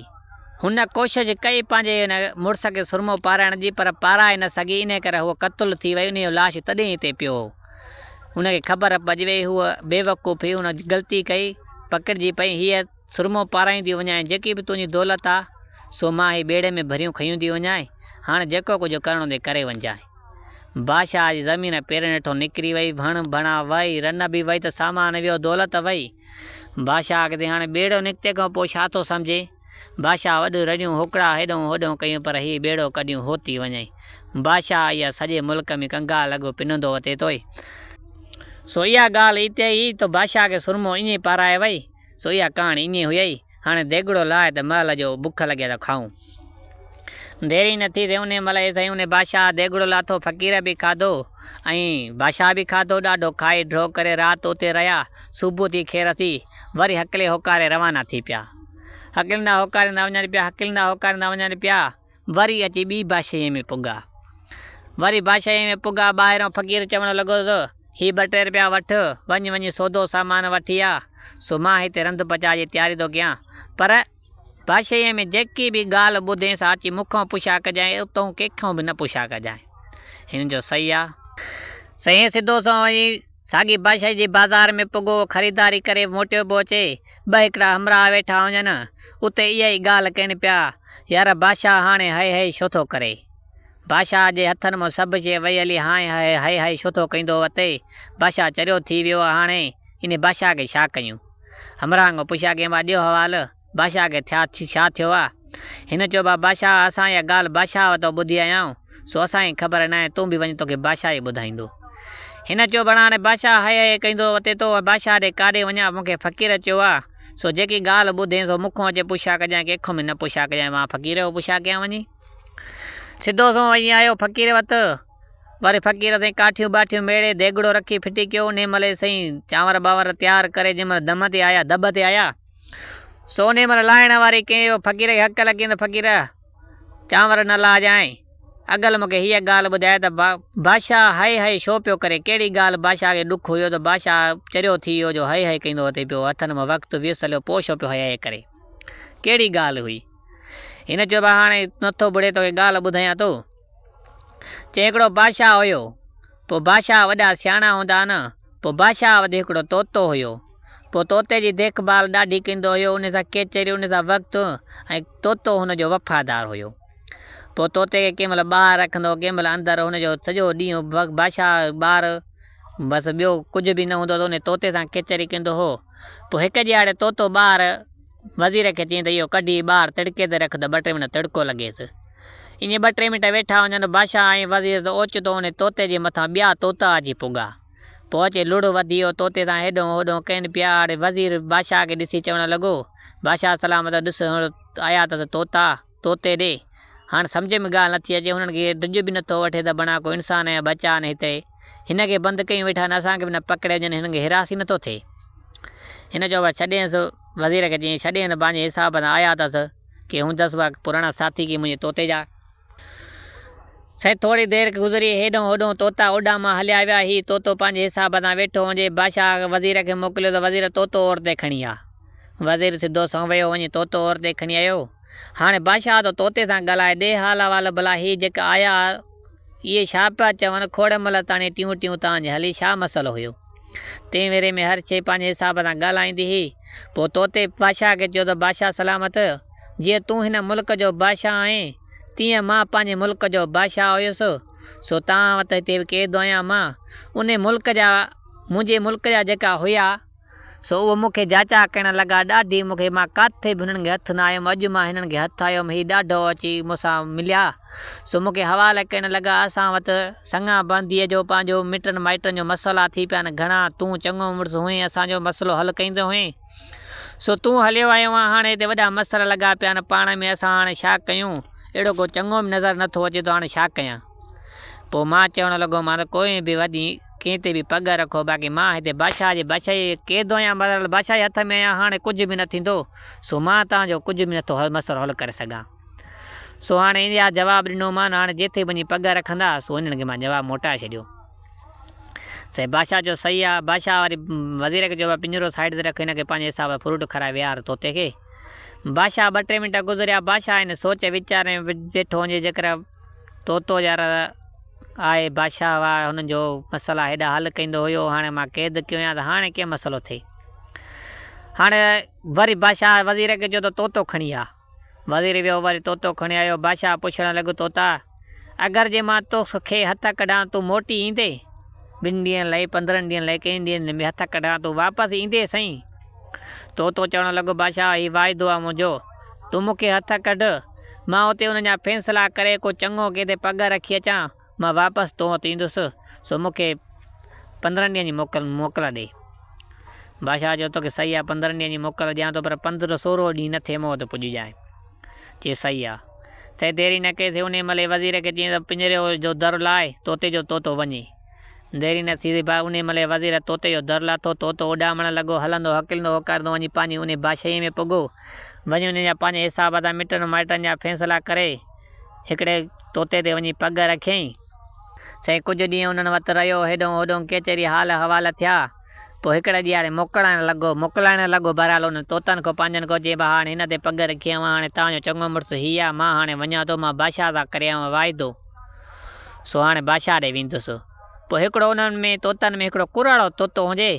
هن ڪوشش ڪئي پنهنجي هن مڙس کي سرمو پارائڻ جي پر پارائي نه سگهي انهي ڪري هوء قتل ٿي وئي انهي جو لاش تڏهن ئي اتي پيو هو. هن کي خبر پئجي وئي هوء بيوقوف هئي هن غلطي ڪئي پڪڙجي پئي هيء سرمو پارائينديون وڃائين، جيڪي به تنهنجي دولت آ، سو مان هي ٻيڙي ۾ ڀريون کنيون ٿي وڃائين، هاڻ جيڪو ڪجهه ڪرڻو اٿئي ڪري وڃجانء. بادشاهه جي زمين پيرن هيٺون نڪري وئي، ڀڻ ڀڻا وئي، رن به وئي ته سامان ويو، دولت وئي. بادشاهه اڳتي هاڻي ٻيڙو نڪتي کان پوء ڇا ٿو سمجهي؟ بادشاهه وڏيون رڙيون هوڪڙا هيڏهون هوڏهون ڪيون پر هي ٻيڙو ڪڏيون هو ٿي وڃئي. بادشاهه اها سڄي ملڪ ۾ ڪنگال لڳو پنندو وتي توئي. سو اها ڳالهه اتي ئي تو بادشاهه کي سرمو ائين پارائي وئي. سو اها ڪهاڻي اڃي هيئي. هاڻي ديڳڙو لاهه ته مئل جو بک لڳي ته کائون. دير ئي نه ٿي سي انهيء مئل اي سائين انهيء بادشاهه ديڳڙو لاٿو فقير به کاڌو ۽ بادشاهه به کاڌو ڏاڍو کائي ڍؤ ڪري رات اتي رهيا صبح ٿي کير ٿي وري هڪلي هوڪاري روانا ٿي پيا هڪليندا هوڪاريندا وڃن پيا هڪليندا هوڪاريندا وڃن پيا وري اچي ٻي بادشاهيء ۾ پڳا. وري بادشاهيء ۾ پڳا، ٻاهرئون فقير چوڻ لڳو ته، هي ٻه ٽي رپيا وٺ، وڃ وڃي سودو سامان وٺي آ، سو مان هتي رنڌ پچاء جي تياري ٿو ڪيان. پر بادشاهيء ۾ جيڪي به ڳالهه ٻڌين سا اچي مون کان پڇا ڪجانء، اتئون ڪنهن کان به نه پڇا ڪجانء. هن چيو، سهي آ. سائين سڌو سنئون وڃي ساڳي بادشاهي جي بازار ۾ پڳو خريداري ڪري موٽيو به اچي، ٻه هڪڙا همراهه ويٺا هجن، اتي اها ئي ڳالهه ڪين پيا، يار بادشاهه هاڻي هائي هائي ڇو ٿو ڪري؟ بادشاهه جي هٿن مان سڀ شيء وهي هلي هانء هائي هائي هائي ڇو ٿو ڪيندو وتي؟ بادشاهه چريو ٿي ويو هاڻي انهي بادشاهه کي ڇا ڪيون؟ همراهن کان پڇيا ڪين وا ڏيو حوال. بادشاهه کي ٿيا ڇا ٿيو آ؟ هن چيو بابا بادشاهه اسان اها ڳالهه بادشاهه وتان ٻڌي آيا آهيون، سو اسان کي خبر ناهي، تون به وڃ توکي بادشاهه ئي ٻڌائيندو. هن چيو بڻا هاڻي بادشاهه هئي هئي ڪيندو وتي تو بادشاهه ڏي ڪاڏي وڃان، مون کي فقير چيو آ، سو جيڪي ڳالهه ٻڌين سو مون کان اچي پڇا ڪجانء ڪنهن کان به نه پڇا ڪجانء، مان فقير کان پڇا ڪيان وڃي. سڌو سنئون وڃي آيو فقير وٽ، وري فقير سائين ڪاٺيون ٻاٺيون ميڙي ديڳڙو رکي ڦٽي ڪيو، انهيء مهل ئي سائين چانور ٻانور تيار ڪري جنهن مهل دم تي آيا، دٻ تي آيا، سو نيمر لاهڻ واري ڪنهن به فقير کي حق لڳين ته فقير چانور نه لاهجانء. اگل مون کي هيء ڳالهه ٻڌائي ته بادشاهه هئي هئي ڇو پيو ڪري. ڪهڙي ڳالهه بادشاهه کي ڏک هيو ته بادشاهه چريو ٿي ويو جو هئي هئي ڪندو اٿئي پيو. هٿن مان وقت ويس هليو پوء ڇو پيو هئي هئي ڪري. ڪهڙي ڳالهه هئي. هن چيو ته هاڻي نه ٿو بڙي توکي ڳالهه ٻڌايان ٿو. چي هڪڙو بادشاهه هيو. پوء بادشاهه وڏا سياڻا هوندا ها نه. پوء بادشاهه وٽ هڪڙو طوطو هيو. پوء طوطي جي ديک ڀال ڏاڍي ڪندو هيو. ان سان ڪيچريون ان سان وقت ۽ طوطو هن جو وفادار هيو. پوء طوطي کي ڪنهن مهل ٻاهر رکندو ڪنهن مهل اندر هن جو سڄو ڏينهن بادشاهه ٻار بس ٻيو ڪجهه به نه هوندو ته ان طوطي سان ڪيچري ڪندو هو. پوء هڪ ڏيهاڙي طوطو ٻار وزير کي چيائين ته اهو ڪڍي ٻاهر تڙڪي تي رک ته ٻه ٽي منٽ تڙڪو لڳيس. اڃي ٻه ٽي منٽ ويٺا هجن، بادشاهه ۽ وزير ته اوچتو انهي طوطي جي مٿان ٻيا طوطا اچي پڳا. پوء اچي لڙهه وڌي ويو، طوطي سان هيڏهون هوڏهون ڪين پيا اڙي. وزير بادشاهه کي ڏسي چوڻ لڳو، بادشاهه سلامت، ڏس هنڙ آيا اٿس طوطا، طوطي ڏي. هاڻ سمجهه ۾ ڳالهه نٿي اچي، هنن کي ڊڄ به نٿو وٺي ته بڻا ڪو انسان يا ٻچا آهن هتي. هن کي بند ڪيون ويٺا آهن، اسان کي به نه پڪڙي وڃن، هنن کي هراس ئي نٿو ٿئي. هن چيو ڀلا ڇڏينس، وزير کي چيائين ڇڏينس پنهنجي حساب سان آيا اٿس، ڪي هوندس اها پراڻا ساٿي ڪي منهنجي طوطي جا. سائين ٿوري دير گذري هيڏانهن هوڏانهن طوطا اوڏان مان هليا ويا، هي طوطو پنهنجي حساب سان ويٺو هجي، بادشاهه وزير کي موڪليو ته وزير طوطو اور تي کڻي آ. وزير سڌو سنئون ويو وڃي طوطو اور تي کڻي آيو. هاڻي بادشاهه تو طوطي سان ڳالهائي ڏي حال احوال ڀلا هي جيڪا آيا اهي ڇا پيا چون کوڙ مهل تاڻي ٽيون ٽيون تان جي هلي ڇا مسئلو هيو تنهن ويري ۾ هر شي پنهنجي حساب سان ڳالهائيندي هي پوء طوطي بادشاهه کي چيو ته بادشاهه سلامت جيئن تون هن ملڪ جو بادشاهه آهين تيئن مان پنهنجي ملڪ جو بادشاهه هيس سو توهان وٽ هتي به قيد آهيان مان انهي ملڪ جا منهنجي ملڪ جا جيڪا هيا سو اهي مون کي جاچا ڪرڻ لڳا، ڏاڍي مون کي، مان ڪاٿي به هنن کي هٿ نه آيم، اڄ مان هنن کي هٿ آيم، هي ڏاڍو اچي مون سان مليا، سو مون کي حوال ڪرڻ لڳا، اسان وٽ سڱان بنديء جو پنهنجو مٽن مائٽن جو مسئلا ٿي پيا آهن، گهڻا تون چڱو مڙس هئين، اسان جو مسئلو حل ڪريندو هئين، سو تون هليو آيو آهين، هاڻي هتي وڏا مسئلا لڳا پيا آهن، پاڻ ۾ اسان هاڻي ڇا ڪيون، اهڙو ڪو چڱو به نظر نه ٿو اچي ته هاڻي ڇا ڪيان. پوء مان چوڻ لڳو مان ڪوئي به وڃي ڪنهن تي به پڳ رکو باقي مان هتي بادشاهه جي بادشاهي جي قيد آهيان بهرحال بادشاهه جي هٿ ۾ آهيان هاڻي ڪجهه به نه ٿيندو سو مان توهان جو ڪجهه به نٿو مسئلو حل ڪري سگهان سو هاڻي ان جا جواب ڏنو مان هاڻي جتي وڃي پڳ رکندا سو انهن کي مان جواب موٽائي ڇڏيو سائين بادشاهه جو صحيح آهي بادشاهه واري وزير کي چيو پڃرو سائيڊ تي رک هن کي پنهنجي حساب سان فروٽ کارائي ويهار طوطي کي بادشاهه ٻه ٽي منٽ گذريا. بادشاهه هن سوچ ويچار ۾ ويٺو هجي جيڪر طوطو يار آء بادشاهه هئا هن جو مسئلا هيڏا حل ڪيندو هيو هاڻي مان قيد ڪيو هيان ته هاڻي ڪيئن مسئلو ٿئي. هاڻي وري بادشاهه وزير کي چيو ته طوطو کڻي آ. وزير ويو وري طوطو کڻي آيو. بادشاهه پڇڻ لڳو طوطا اگر جي مان تو کي هٿ ڪڍان تون موٽي ايندين؟ ٻن ڏينهن لئي، پندرهن ڏينهن لئي، ڪئين ڏينهن به هٿ ڪڍان تون واپس ايندين سائين؟ طوطو چوڻ لڳو بادشاهه هي واعدو آ منهنجو، تون مون کي هٿ ڪڍ، مان اتي انهن جا فيصلا ڪري ڪو چڱو ڪنهن تي پڳ رکي اچان، مان واپس تو وٽ ايندس، سو مون کي پندرهن ڏينهن جي موڪل موڪل ڏي. بادشاهه چيو توکي صحيح آ پندرهن ڏينهن جي موڪل ڏيان ٿو پر پندرهن سورهو ڏينهن نه ٿئي مون وٽ پڄجانء. چي صحيح آ. سي ديري نه ڪئي سي انهي مهل ئي وزير کي چيائين ته پڃري جو در لاء طوطي جو طوطو وڃي. ديري نه ٿيندي ڀاء. انهيء مهل ئي وزير طوطي جو در لاٿو. طوطو اڏامڻ لڳو. هلندو، هڪلندو، هوڪاريندو وڃي پنهنجي انهيء بادشاهيء ۾ پڳو. وڃي انهن جا پنهنجي حساب سان مٽن مائٽن جا فيصلا ڪري، هڪڙي طوطي تي وڃي پڳ رکيائين. سائين ڪجهه ڏينهن انهن وٽ رهيو. هيڏهون هوڏهون ڪيچري حال احوال ٿيا. پوء هڪڙي ڏينهن هاڻي موڪلائڻ لڳو، موڪلائڻ لڳو، بهرحال انهن طوطن کان پنهنجن کان چيائين، ڀاء هاڻي هن تي پڳ رکي اوهان هاڻي توهان جو چڱو مڙس هي آهي، مان هاڻي وڃان ٿو، مان بادشاهه سان ڪري آيو آهيان واعدو، سو هاڻي بادشاهه ڏي ويندس. پوء هڪڙو انهن ۾ طوطن ۾ هڪڙو ڪرڙو طوطو هجي،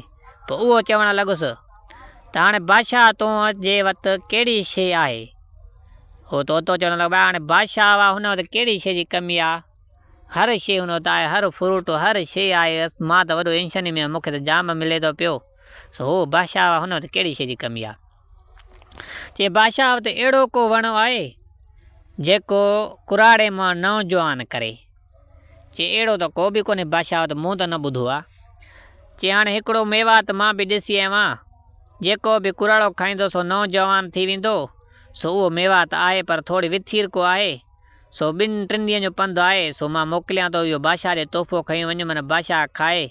پوء اهو چوڻ لڳس ته هاڻي بادشاهه توهان جي وٽ ڪهڙي شيء آهي؟ اهو طوطو چوڻ لڳو، ڀاء هاڻي بادشاهه هن وٽ ڪهڙي شيء جي ڪمي آهي؟ هر شي هون اتي آهي، هر فروٽ، هر شي آهي، بس مان ته وڏو انشني ۾ آهيان، مون کي ته جام ملي ٿو پيو. سو هو بادشاهه هن وٽ ڪهڙي شي جي ڪمي آهي؟ چي بادشاهه وٽ اهڙو ڪو وڻ آهي، جيڪو ڪراڙي مان نوجوان ڪري؟ چي اهڙو ته ڪو به ڪونهي بادشاهه وٽ، مون ته نه ٻڌو آهي. چي هاڻي هڪڙو ميوات مان به ڏسي آيو آهيان، جيڪو به ڪراڙو کائيندو سو نوجوان ٿي ويندو، سو اهو ميوات آهي پر ٿوري وٿيرڪو آهي. سو ٻن ٽن ڏينهن جو پنڌ آهي، سو مان موڪليان ٿو اهو بادشاهه ڏي تحفو کڻي وڃ، من بادشاهه کائي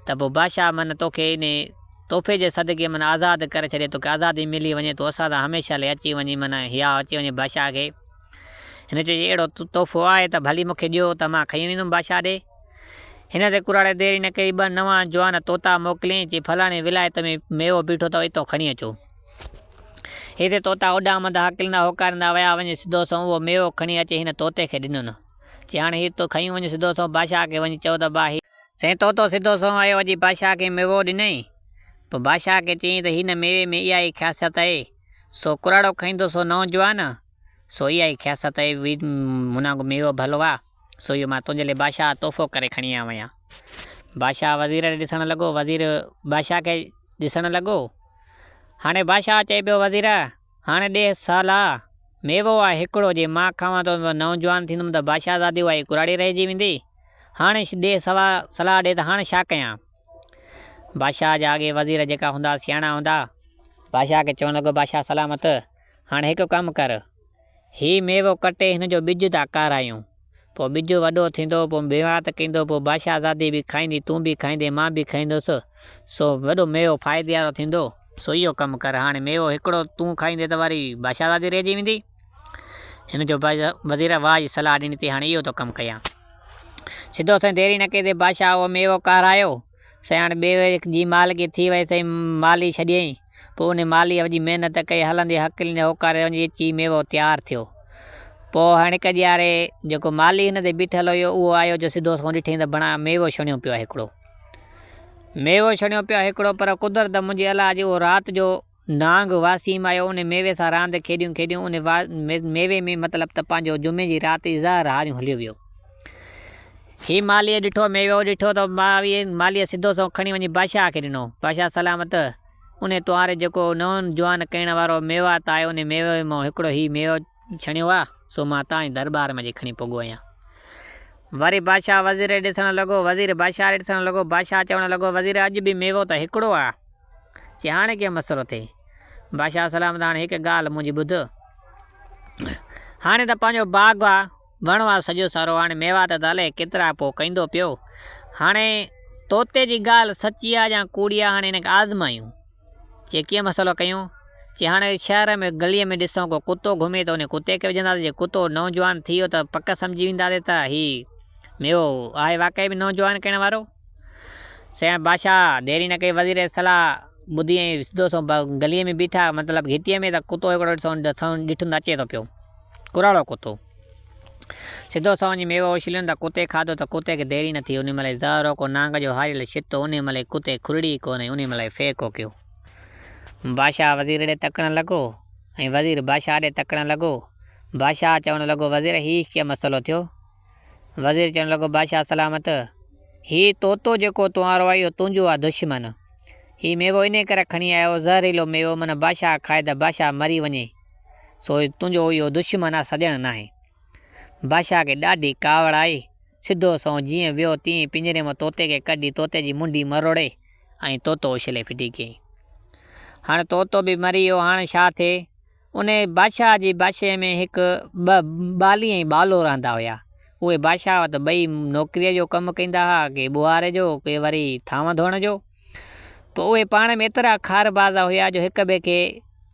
ته پوء بادشاهه من توکي انهي تحفي جي صدقي من آزاد ڪري ڇڏي، توکي آزادي ملي وڃي، تون اسان سان هميشه لئي اچي وڃين، من هيا اچي وڃي بادشاهه کي. هن چيو جي اهڙو تحفو آهي ته ڀلي مون کي ڏيو ته مان کڻي ويندم بادشاهه ڏي. هن تي ڪراڙي دير ئي نه ڪئي، ٻه نوان جوان طوطا موڪليائين، چي فلاڻي ولايت ۾ ميوو بيٺو اٿو، اتو کڻي اچو. هتي طوطا اڏامندا، هڪلندا، هوڪاريندا ويا، وڃي سڌو سنئون اهو ميوو کڻي اچي هن طوطي کي ڏنن. چي هاڻي هي تون کنيون وڃ سڌو سنئون بادشاهه کي وڃي چئو ته با هي. سائين طوطو سڌو سنئون آيو اچي بادشاهه کي ميوو ڏنائين. پوء بادشاهه کي چيائين ته هن ميوي ۾ اها ئي خاصيت آهي، سو ڪراڙو کائيندو سو نئون جوان، سو اها ئي خاصيت آهي، مون وانگو ميوو ڀلو آ، سو اهو مان تنهنجي لاء بادشاهه تحفو ڪري کڻي آيو آهيان. بادشاهه وزير ڏي ڏسڻ لڳو، وزير بادشاهه کي ڏسڻ لڳو. هاڻي بادشاهه چئي پيو وزير! هاڻي ڏيهه سهل آ. ميوو آ هڪڙو، جي مان کاوان ٿو ته نئون جوان ٿيندم ته بادشاهزادي اها ئي ڪراڙي رهجي ويندي. هاڻي ڏيهه سوا صلاح ڏي ته هاڻ ڇا ڪيان؟ بادشاهه جا اڳي وزير جيڪا هوندا سياڻا هوندا. بادشاهه کي چوڻ لڳو بادشاهه سلامت! هاڻي هڪ ڪم ڪر. هي ميوو ڪٽي هن جو ٻج ٿا ڪارايون. پوء ٻج وڏو ٿيندو، پوء ميوات ڪيندو، پوء بادشاهزادي به کائيندي، تون به کائيندين، مان به کائيندس، سو وڏو ميوو فائدي وارو ٿيندو، سو اهو ڪم ڪر، هاڻي ميوو هڪڙو تون کائيندين ته واري بادشاهزادي رهجي ويندي. هن جو وزير واهه جي صلاح ڏني ٿي، هاڻي اهو ٿو ڪم ڪيان. سڌو سائين ديري نه ڪيندي بادشاهه اهو ميوو ڪارايو. سياڻ ٻئي ويل جي مال کي ٿي ويس ۽ مال ئي ڇڏيئين. پوء انهي مال ئي جي محنت ڪئي هلندي هڪلين جي هوڪاري وڃي اچي ميوو تيار ٿيو. پوء هڻڪ ڄياري جيڪو مالهي هن تي بيٺل هيو اهو آيو جو سڌو سنئون ڏٺئين ته بڻا ميوو ڇڻيو پيو آهي هڪڙو. ميوو ڇڻيو پيو آهي هڪڙو پر قدرت منهنجي الا اڄ اهو رات جو نانگ واسيم آيو ان ميوي سان راند کيڏيون کيڏيون ان ميوي ۾ مطلب ته پنهنجو جمعي جي رات جي زهر هاريون هليو ويو هي مالهيء ڏٺو ميوو ڏٺو ته مالهيء سڌو سنئون کڻي وڃي بادشاهه کي ڏنو بادشاهه سلامت ان توهاري جيڪو نئون جوان ڪئڻ وارو ميوات آهي ان ميوي مان هڪڙو هي ميوو ڇڻيو آ سو مان تانئي درٻار ۾ اڄ کڻي پڳو آهيان وري بادشاهه وزير ڏي ڏسڻ لڳو وزير بادشاهه ڏي ڏسڻ لڳو بادشاهه چوڻ لڳو وزير اڄ به ميوو ته هڪڙو آ چي هاڻي ڪيئن مسئلو ٿئي؟ بادشاهه سلام ته هاڻي هڪ ڳالهه منهنجي ٻڌ. هاڻي ته پنهنجو باغ آ، وڻ آ سڄو سارو، هاڻي ميوا ته الائي ڪيترا پوء ڪيندو پيو. هاڻي طوطي جي ڳالهه سچي آ يا ڪوڙي آ، هاڻي هن کي آزمايون. چي ڪيئن مسئلو ڪيون؟ چي هاڻي شهر ۾ گليء ۾ ڏسون ڪو ڪتو گهمي ته انهي ڪتي کي وجهنداسين، جي ڪتو نوجوان ٿي ويو ته پڪ سمجهي وينداسين ته هي ميوو آهي واقعي ۾ نوجوان ڪرڻ وارو. سيان بادشاهه ديري نه ڪئي وزير جي صلاح ٻڌي ۽ سڌو سنئون گليء ۾ بيٺا، مطلب گهٽيء ۾ ته ڪتو هڪڙو ڏٺو ۽ سنئون ڏٺن ته اچي ٿو پيو ڪراڙو ڪتو. سڌو سنئون وڃي ميوو اڇليون ته ڪتي کاڌو ته ڪتي کي ديري نه ٿي انهي مهل ئي زهر هوڪو نانگ جو هاريل شتو انهي مهل ئي ڪتي کرڙي ئي ڪونه ۽ انهي مهل ئي ڦي ڪوڪيو. بادشاهه وزير ڏي تڪڻ لڳو ۽ وزير بادشاهه ڏي تڪڻ لڳو. بادشاهه چوڻ لڳو وزير هي ڪيئن مسئلو ٿيو؟ وزير چوڻ لڳو، بادشاهه سلامت! هي طوطو جيڪو تون آرو آهي اهو تنهنجو آهي دشمن. هي ميوو انهيء ڪري کڻي آيو آهي، زهريلو ميوو، من بادشاهه کائي ته بادشاهه مري وڃي. سو تنهنجو اهو دشمن آهي، سڄڻ ناهي. بادشاهه کي ڏاڍي ڪاوڙ آئي. سڌو سنئون جيئن ويو تيئن ئي پڃري مان طوطي کي ڪڍي طوطي جي منڍي مروڙي ۽ طوطو اڇلي ڦٽي ڪيائين. هاڻ طوطو به مري ويو، هاڻ ڇا ٿئي؟ انهيء بادشاهه جي بادشاهيء ۾ هڪ ٻه ٻالي ۽ ٻالو رهندا هيا. اهي بادشاهه وٽ ٻئي نوڪريء جو ڪم ڪندا ها، ڪي ٻوهاري جو، ڪي وري ٿانو ڌوئڻ جو. پر اهي پاڻ ۾ ايترا خار باز هيا جو هڪ ٻئي کي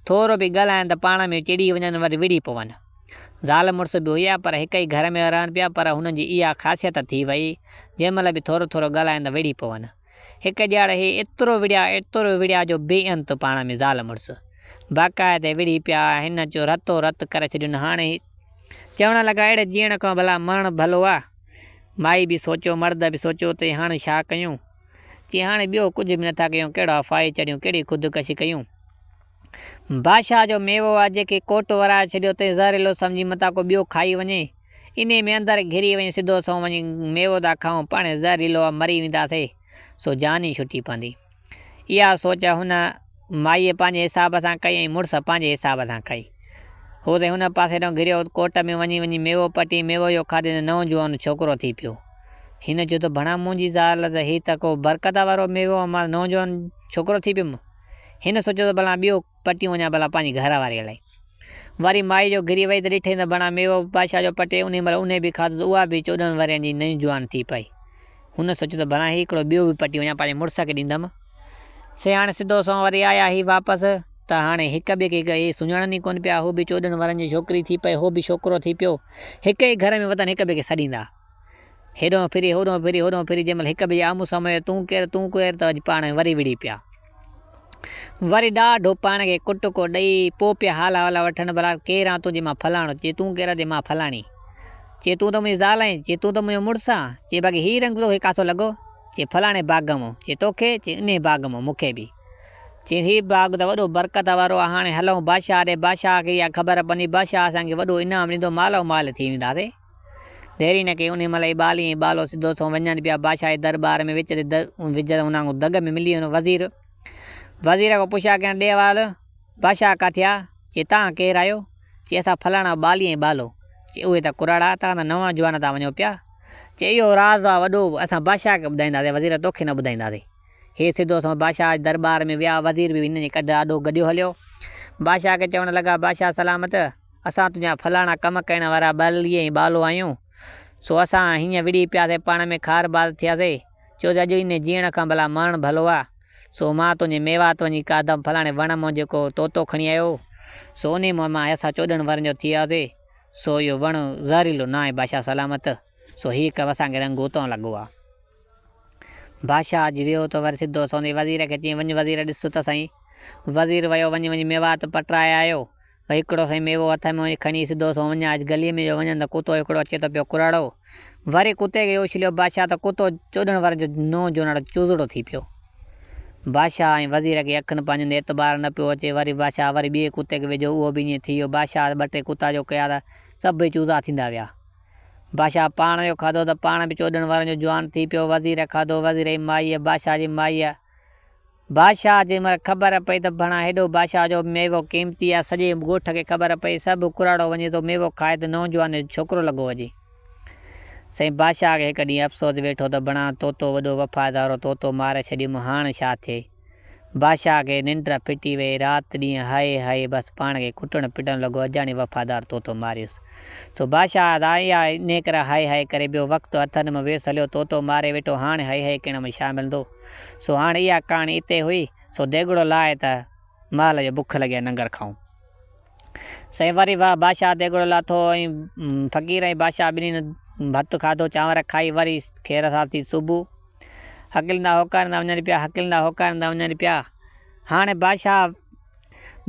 ٿورو به ڳالهائن ته پاڻ ۾ چڙي وڃن وري وڙهي پون. زال مڙس به هيا پر هڪ ئي گهر ۾ رهن پيا پر هنن جي اها خاصيت ٿي وئي جنهن مهل به ٿورو ٿورو ڳالهائن ته وڙهي پون. هڪ ڄاڙ هي ايترو وڙهيا ايترو وڙهيا جو بي انت پاڻ ۾ زال مڙس باقاعدي وڙهي پيا هن جو رتو رت ڪري ڇڏين هاڻي هي چوڻ لڳا اهڙي جيئڻ کان ڀلا مرڻ ڀلو آ مائي به سوچيو مرد به سوچيو تي هاڻي ڇا ڪيون چي هاڻي ٻيو ڪجهه به نٿا ڪيون ڪهڙا ڦاهي چڙهيون ڪهڙي خودڪشي ڪيون بادشاهه جو ميوو آ جيڪي ڪوٽ ورائي ڇڏيو تي زهريلو سمجهي متان ڪو ٻيو کائي وڃي. انهيء ۾ اندر گهري وڃي سڌو سنئون وڃي ميوو ٿا کائون، پاڻهي زهريلو ۽ مري وينداسي، سو جان ئي ڇٽي پوندي. اها سوچ هن مائيء پنهنجي حساب سان ڪئي ۽ مڙس پنهنجي حساب سان ڪئي. هو سائين هن پاسي ڏانهن گهريو، ڪوٽ ۾ وڃي وڃي ميوو پٽي، ميوو اهو کاڌي ته نئون جوان ڇوڪرو ٿي پيو. هن چيو ته ڀڻا منهنجي زال ته هي ته ڪو برڪت وارو ميوو ۽ مان نئون جوان ڇوڪرو ٿي پيم. هن سوچيو ته ڀلا ٻيو پٽيون وڃان ڀلا پنهنجي گهر واريء لاء. وري مائي جو گري وئي ته ڏٺئي ته بڻا ميوو بادشاهه جو پٽي انهي مهل انهي به کاڌو ته اها به چوڏهن ورهين جي نئين جوان ٿي پئي. هن سوچيو ته بڻا هي هڪڙو ٻيو به پٽي وڃان پنهنجي مڙس کي ڏيندم. سي هاڻي سڌو سنئون وري آيا هي واپس ته هاڻي هڪ ٻئي کي اهي سڃاڻن ئي ڪونه پيا. هو به چوڏهن ورهين جي ڇوڪري ٿي پئي هو به ڇوڪرو ٿي پيو. هڪ ئي گهر ۾ وتن هڪ ٻئي کي سڏيندا. هيڏهون ڦري هوڏهون ڦري هوڏهون ڦري جنهن مهل هڪ ٻئي جي آمهون سامهون آيا تون ڪير تون ڪير ته اڄ پاڻ وري وڙهي پيا. وري ڏاڍو پاڻ کي ڪٽڪو ڏئي، پوء پيا حال احوال وٺن، ڀلا ڪير آن تون؟ چي مان فلاڻو. چي تون ڪير آن؟ چي مان فلاڻي. چي تون ته منهنجي زال آهين. چي تون ته منهنجو مڙس آن. چي باقي هي رنگ توکي ڪاٿو لڳو؟ چي فلاڻي باغ مون. چي توکي؟ چي انهيء باغ مون مون کي به. چي هي باغ ته وڏو برڪت وارو آهي، هاڻي هلئون بادشاهه ڏي، بادشاهه کي اها خبر پوندي، بادشاهه اسان کي وڏو انعام ڏيندو، مالو مال ٿي وينداسين. ديري نه ڪئي، انهيء مهل ايبالي ۽ ايبالو سڌو سنئون وڃن پيا بادشاهه جي درٻار ۾ وچ تي وجهه تي انهن کان دڳ ۾ ملي ويو وزير وزير کان پڇيا ڪيائين ڏي احوال بادشاهه ڪاٿيا؟ چي تان ڪير آهيو؟ چي اسان فلاڻا ايبالي ۽ ايبالو چي اهي ته ڪراڙا تان ته نوان جوان تان وڃو پيا چي اهو راز آهي وڏو اسان بادشاهه کي ٻڌائينداسين وزير توکي نه ٻڌائينداسين هي سڌو سنئون بادشاهه جي درٻار ۾ ويا وزير به هنن جي ڪڍ آڏو گڏيو هليو بادشاهه کي چوڻ لڳا بادشاهه سلامت. اسان تنهنجا فلاڻا ڪم ڪرڻ وارا ٻاللي ۽ ٻالو آهيون، سو اسان هينئن وڙهي پياسي پاڻ ۾ کار باز ٿياسي، چوس اڄ انهي جيئڻ کان ڀلا مرڻ ڀلو آ، سو مان تنهنجي ميوات وڃي کاڌم فلاڻي وڻ مون جيڪو طوطو کڻي آيو هو، سو انهي مون مان اسان چوڏهن ورهين جو ٿي آياسي، سو اهو وڻ زهريلو ناهي بادشاهه سلامت، سو هي ڪم اسان کي رنگون تان لڳو آ. بادشاهه اچي ويهو ته وري سڌو سوندي وزير کي چيائين وڃ وزير ڏس ته سهين، وزير ويو وڃي وڃي ميوات پٽرائي آيو، هڪڙو سائين ميوو هٿ ۾ وڃي کڻي سڌو سون وڃان اچ گليء ۾ جو وڃان ته ڪتو هڪڙو اچي ٿو پيو ڪراڙو. وري ڪتي کي اڇليو بادشاهه ته ڪتو چوڏهن ورهين جو نو جوناڻو چوزڙو ٿي پيو. بادشاهه ۽ وزير کي اکين پنهنجين تي اعتبار نه پيو اچي. وري بادشاهه وري ٻئي ڪتي کي وجهيو اهو به ائين ٿي ويو. بادشاهه ٻه ٽي ڪتا جو ڪيا ته سڀ ئي چوزا ٿيندا ويا. بادشاهه پاڻ جو کاڌو ته پاڻ به چوڏهن ورهين جو جوان ٿي پيو. وزير کاڌو وزير جي مائيء بادشاهه جي مائيء. بادشاهه جي مڙهه خبر پئي ته ڀڻا هيڏو بادشاهه جو ميوو قيمتي آهي. سڄي ڳوٺ کي خبر پئي. سڀ ڪراڙو وڃي ٿو ميوو کائي ته نوجوان جو ڇوڪرو لڳو هجي. سائين بادشاهه کي هڪ ڏينهن افسوس ويٺو ته ڀڻا طوطو وڏو وفادار هو طوطو ماري ڇڏيم هاڻ ڇا ٿئي. بادشاهه کي ننڊ ڦٽي ويئي. رات ڏينهن هائي هائي بس پاڻ کي ڪٽڻ پٽڻ لڳو اجاڻي وفادار طوطو ماريس. سو بادشاهه سان اها نيڪرا هائي هائي ڪري ٻيو وقت هٿن مان ويس هليو طوطو ماري ويٺو هاڻ هائي هائي ڪرڻ ۾ ڇا ملندو. سو هاڻ اها ڪهاڻي اتي هئي سو ديڳڙو لاهي ته مال جو بک لڳي ننگر کائون. سائين وري واهه بادشاهه ديڳڙو لاٿو ۽ فقير ۽ بادشاهه ٻنهين ڀت کاڌو چانور کائي وري خير سان ٿي صبح هڪلندا هوڪاريندا وڃن پيا هڪلندا هوڪاريندا وڃن پيا هاڻ بادشاهه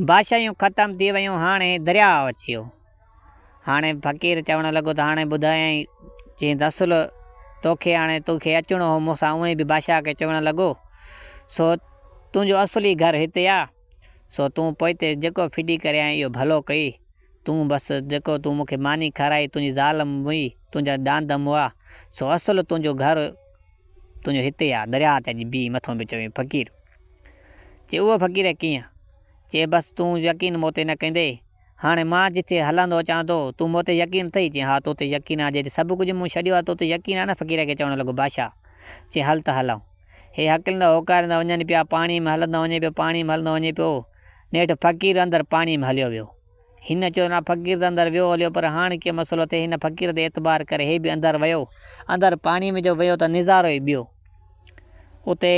بادشاهيون ختم ٿي ويون هاڻ هي درياء اچيو. هاڻي فقير چوڻ لڳو ته هاڻي ٻڌايائين جئين دسل توکي هاڻي تو کي اچڻو هو مون سان اونئين به بادشاهه کي چوڻ لڳو سو تنهنجو اصل ئي گهر هتي آ سو تون پوئتي جيڪو ڦڊي ڪريائين اهو ڀلو ڪئي تون بس جيڪو تون مون کي ماني کارائي تنهنجي زال مئي تنهنجا ڏاند مئا سو اصل تنهنجو گهر تنهنجو هتي آ درياهه تي اڄ بيهي مٿو به چوين فقير چي اهو فقير ڪيئن چي بس تون يقين مون تي نه ڪندي. هاڻي مان جتي هلندو اچان ٿو، تون مون تي يقين اٿئي؟ چي ها تو تي يقين آهي جيڏي سڀ ڪجهه مون ڇڏيو آهي تو تي يقين آهي نه فقير کي چوڻ لڳو بادشاهه چي هل ته هلئون. هي هڪلندا هوڪاريندا وڃن پيا پاڻي ۾ هلندو وڃي پيو پاڻي ۾ هلندو وڃي پيو نيٺ فقير اندر پاڻي ۾ هليو ويو. هن چيو نه فقير ته اندر ويو هليو پر هاڻ ڪي مسئلو ٿئي هن فقير تي اعتبار ڪري هي به اندر ويو اندر پاڻي ۾ جو ويو ته نظارو ئي ٻيو اتي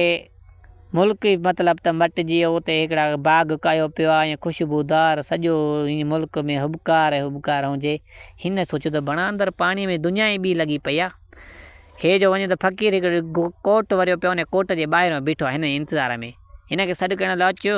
ملڪ ئي مطلب ته مٽجي ويو اتي هڪڙا باغ ڪاهيو پيو آهي ائين خوشبو دار سڄو ائين ملڪ ۾ هٻڪار ئي هٻڪار هجي هن سوچيو ته بڻا اندر پاڻي ۾ دنيا ئي ٻي لڳي پئي آهي هي جو وڃي ته فقير هڪڙو ڪوٽ وريو پيو آهي ان ڪوٽ جي ٻاهران بيٺو آهي هن انتظار ۾ هن کي سڏ ڪرڻ لاء اچيو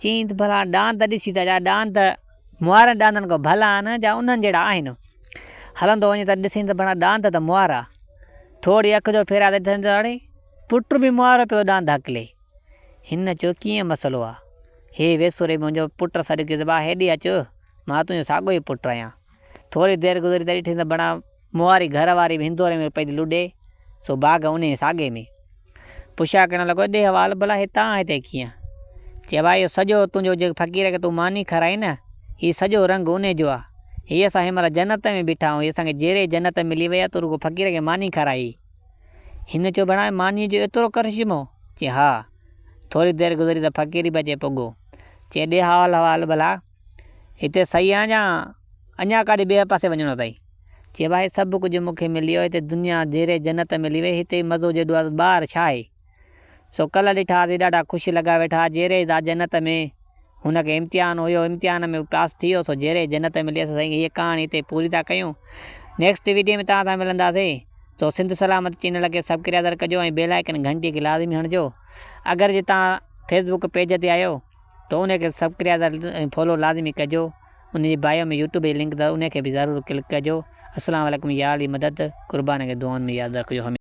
چيائين ته ڀلا ڏاند ڏسي ته جا ڏاند موارن ڏاندن کان ڀلا آهن جا انهن جهڙا آهن. هلندو وڃي ته ڏسين ته ڀلا ڏاند ته موارا. ٿورڙي اک جو ڦيرائي ته ڏسين ته اڙي! پٽ به موارو پيو ڏاند هڪلي. هن چيو ڪيئن مسئلو آهي. هي ويسوري منهنجو پٽ سڏ ڪيو ته ڀاء هيڏي اچ مان تنهنجو ساڳيو ئي پٽ آهيان. ٿوري دير گذري ته ڏٺي ته بڻا مواري گهر واري به هندوري ۾ پئي ٿي لڏي، سو باغ انهيء ساڳي ۾. پڇا ڪرڻ لڳو، ڏي حوال ڀلا هتان هتي ڪيئن؟ چي، واهه اهو سڄو تنهنجو جيڪ فقير کي تون ماني کارائين نه، هي سڄو رنگ انهيء جو آ. هي اسان هن مهل جنت ۾ بيٺا آهيون، هي اسان کي جيري جنت ملي وئي آ، تون رڳو فقير کي ماني کارائي. هن چيو، بڻا مانيء جو ايترو ڪرشمو؟ چي، ها. ٿوري دير گذري ته فقير به اچي پڳو. چي ڏي حوال حوال ڀلا هتي صحيح آن جا اڃا ڪاڏي ٻئي پاسي وڃڻو اٿئي؟ چي ڀائي سڀ ڪجهه مون کي ملي ويو هتي دنيا جيري جنت ملي وئي هتي مزو جيڏو آ ٻاهر ڇا آهي؟ سو ڪلهه ڏٺا هاسين ڏاڍا خوش لڳا ويٺا جيري ادا جنت ۾ هن کي امتحان هيو امتحان ۾ هو پاس ٿي ويو سو جيري جنت ملي اسان سائين هيء ڪهاڻي هتي پوري ٿا ڪيون نيڪسٽ ويڊيو ۾ توهان سان ملنداسين. سو سنڌ سلامت چينل کي سبڪريادر ڪجو ۽ بيل آئيڪن گهنٽي کي لازمي هڻجو اگر جي توهان فيس بوڪ پيج تي آهيو ته ان کي سبڪريادر ۽ فالو لازمي ڪجو ان جي بايو ۾ يوٽيوب جي لنڪ اٿس ان کي به ضرور ڪلڪ ڪجو اسلام عليڪم يا علي مدد قربان کي دعائن ۾ ياد رکجو هميشه.